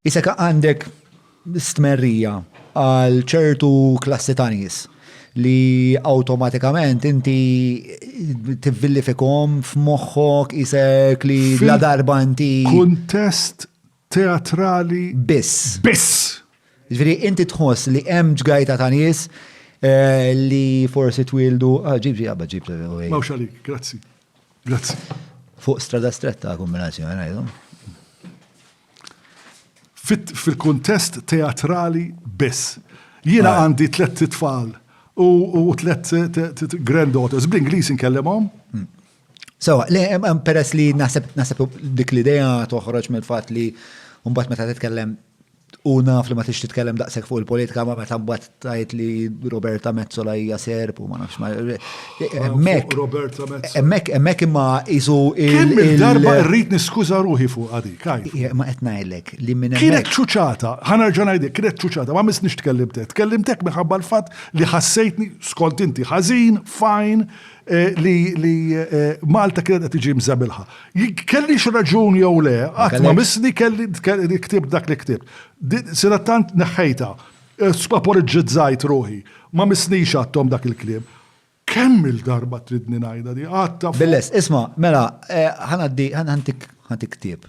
Isek għandek stmerrija għal ċertu klassi ta' nies li automatikament inti tivvillifikom f'moħħok isek li la darba inti. Kuntest teatrali. Biss. Biss. Ġviri, inti tħoss li hemm ġgajta ta' nies eh, li forsi twildu. Ah, ġib ġib, ġib. Mawx għalik, grazzi. Grazzi. Fuq strada stretta kombinazzjoni ngħidu. Fil-kuntest teatrali biss. Jiena għandi tlet tfal u tlet granddaughters. Bl-Ingliż inkellimhom. Hmm. So, peress li naħseb dik l-idea toħroġ mill-fatt li mbagħad meta titkellem U naf li ma tix titkellem daqshekk fuq il-politika ma meta mbagħad tajt li Roberta Mezzola hija serb u ma nafx ma. Hemmhekk. Roberta Mezzola. Hemmhekk hemmhekk imma isu il. Darba rrid niskuża ruħi fuq għadi, kaj. Ma qed ngħidlek li minn hemmhekk. Kienet ċuċata, ħanerġa' ngħidlek, kienet ċuċata, ma missniex tkellimtek. Tkellimtek minħabba l-fatt li ħassejtni skont inti ħażin, fajn, li Malta kienet qed tiġi mżebilha. Kellix raġun jew le, qatt ma missni kelli ktib dak li ktib. Sira tant neħħejta, spaporiġġizzajt ruħi, ma missnix għadthom dak il-kliem. Kemm il-darba tridni ngħidha di, għadha. Bil-lest, isma', mela, ħa ngħaddi, ħa ntik ktib.